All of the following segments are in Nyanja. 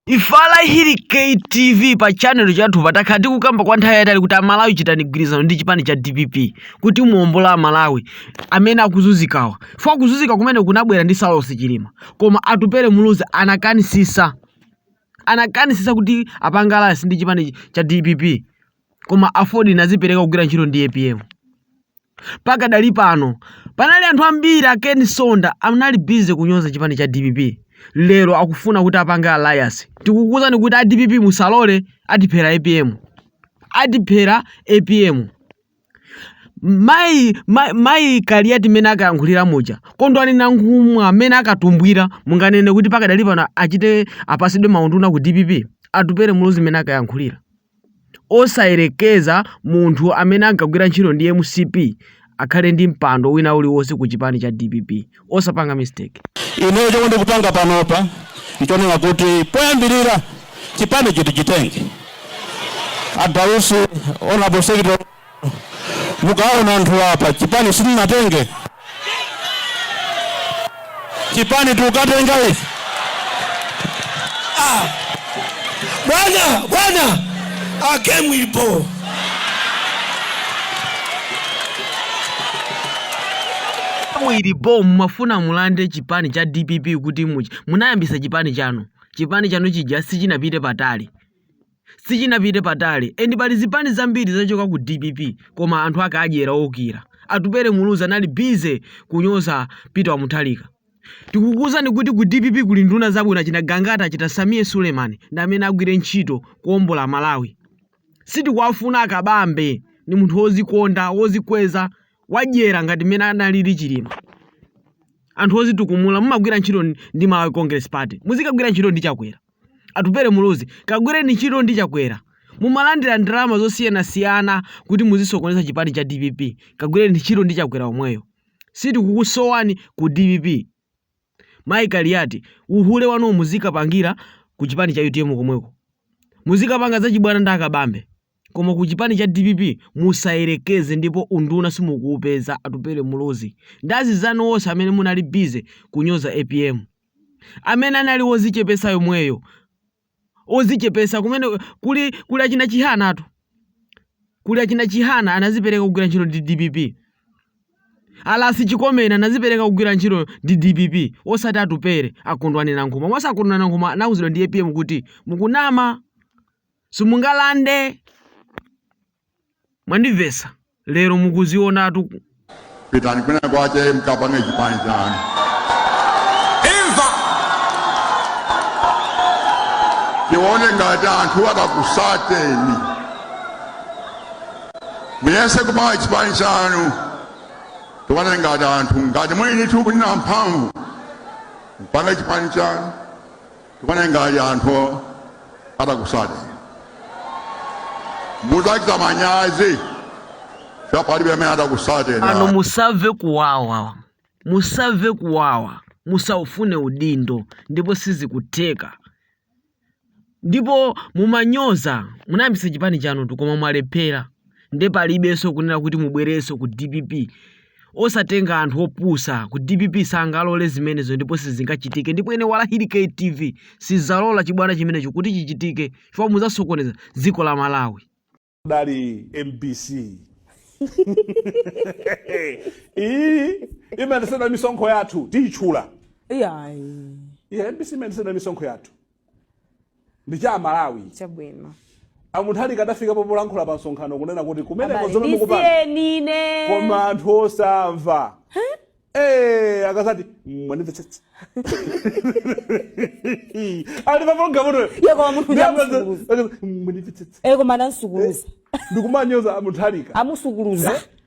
Ifala Bakili TV pa channel chathupa takhala tikukamba kwa nthawi yaitali kuti amalawi chitani gwirizano ndi chipani cha DPP kuti muombole amalawi amene akuzuzikawa ife kuzuzika kumene kunabwera ndi Saulos Chilima koma Atupele Muluzi anakanisisa kuti apange alliance ndi chipani cha DPP koma AFORD inazipereka kugwira ntchito ndi APM Pakadali pano panali anthu ambiri a Ken Msonda anali busy kunyoza chipani cha dpp lero akufuna kuti apange alliance tikukuuzani kuti a dpp musalole atiphera apm atiphera apm mayi Kaliati mmene akayankhulira muja Kondwani Nankhumwa mmene akatumbwira munganene kuti pakadali pano achite apasidwe maunduna ku dpp Atupele Muluzi mmene akayankhulira osayerekeza munthu amene ankagwira ntchito ndi mcp akhale ndi mpando wina uliwonse ku chipani cha dpp osapanga mistake. Ineyo chomwe ndikupanga panopa nchonena kuti poyambirira chipanicho tichitenge a Dausi honorable secretary Mukaona anthu apa chipani simunatenge chipani tukatenga ife ah. Bwana bwana a Ken mulipo muli bo mumafuna mulande chipani cha dpp kuti muchi munayambisa chipani chanu chipani chanu chija sichinapite patali Sichinapite patali and pali zipani zambiri zachoka ku dpp koma anthu ake adyera oukira. Atupele Muluzi anali busy kunyoza Peter Mutharika. Tikukuuzani kuti ku dpp kuli nduna zabwino achina Gangata achina Sameer Suleiman ndi amene agwire ntchito kuombola Malawi. Sitikuwafuna a Kabambe ndi munthu wozikonda, wozikweza, wadyera ngati mmene analili Chilima. Anthu ozitukumula mumagwira ntchito ndi Malawi Congress Party muzikagwira ntchito ndi Chakwera. Atupele Muluzi, kagwireni ntchito ndi Chakwera. Mumalandira ndalama zosiyanasiyana kuti muzisokoneza chipani cha dpp. Kagwireni ntchito ndi Chakwera omweyo. Sitikukusowani ku dpp. Mayi Kaliati, uhule wanuwo muzikapangira ku chipani cha utm komweko. Muzikapanga zachibwana ndi a Kabambe. Koma ku chipani cha dpp musayerekeze ndipo unduna simukuupeza Atupele Muluzi. Ndi anzanu onse amene munali busy kunyoza apm. amene anali wodzichepetsa yemweyo odzichepetsa kumene kuli achina Chihana atu kuli achina Chihana anazipereka kugwira ntchito ndi dpp a Ras Chikomeni anazipereka kugwira ntchito ndi dpp osati Atupele a Kondwani Nankhumwa monse a Kondwani Nankhumwa anauzidwa ndi apm kuti mukunama simungalande Mwandimvetsa lero mukuzionatu. Pitani kwina kwache mkapange chipani chanu. Imva. Tione ngati anthu akakusateni. Muyese kupanga chipani chanu. Tione ngati anthu ngati mwini tikunena mphamvu. Mpange chipani chanu. tione ngati anthu atakusateni mudzachita manyazi chifukwa palibe amene atakusateni pano musamve kuwawa musamve kuwawa musaufune udindo ndipo sizikutheka ndipo mumanyoza munayambisa chipani chanu koma mwalephera nde palibenso kunena kuti mubwerenso ku dpp osatenga anthu opusa ku dpp sangalole zimenezo ndipo sizingachitike ndipo ine walahili ktv sizalola chibwana chimenecho kuti chichitike chifukwa muzasokoneza dziko la malawi dali mbc iyi imayendera misonkho yathu tiyitchula iyayi yeah, mbc imayendera misonkho yathu ndi cha amalawi chabwino a Mutharika adafika popolankhula pa msonkhano kunena kuti kumeneko Abale, zomwe mukupanga ndisiyeni ine koma anthu osamva Eh, akasati mwanimvetsetsa ali paprogramutoyo Iye koma munthu uja amusukuluza. mwanimvetsetsa koma anamsukuluza ndikumanyoza a Mutharika amusukuluza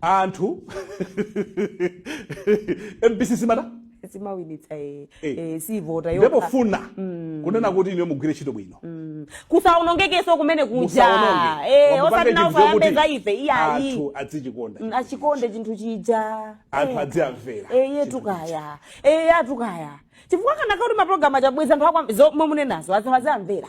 anthu mbc simata simawinitsa eh, Eh. eh, sivota yokha nde pofuna kunena kuti ine mugwire ntchito bwino kusaonongekeso kumene kuja musaononge Eh, Wamupange osati nawo chinthu chokuti kayambe za ife iyayi anthu adzichikonda Mm, achikonde chinthu chija anthu Eh. adziamvera eye tukaya eye atukaya chifukwa kana kakuti mapulogalamu achabweza anthu akwa- zo- momwe munenazo azamvera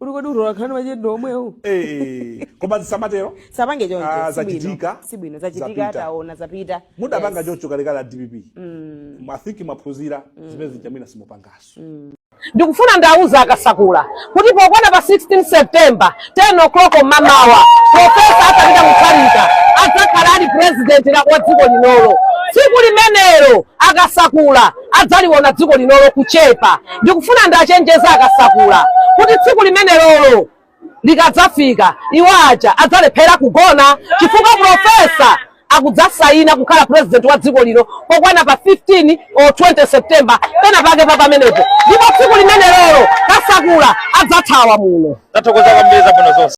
uli kodi utolankhani machende omwewo Eh, koma zisamatero sapange choncho Ah, sibwino. zachitika, sibwino zachitika zapita. taona zapita mudapanga Yes. choncho kalekale a dpp i think mwaphunzira zimene zija mwina simupangaso ndikufuna ndiauze akasakula kuti pokwana pa 16 september 10 o'clock mamawa profesa arthur peter mutharika adzakhala ali president la- wa dziko linolo tsiku limenelo akasakula adzaliwona dziko linolo kuchepa. Ndikufuna ndiachenjeze akasakula kuti tsiku limenelolo likadzafika, iwo aja adzalephera kugona chifukwa Profesa akudzasaina kukhala president wa dziko lino pokwana pa 15 or 20 September pena pake pa pamenepo, ndipo tsiku limenelolo kasakula adzathawa muno. Tathokoza kwambiri zabwino zonse.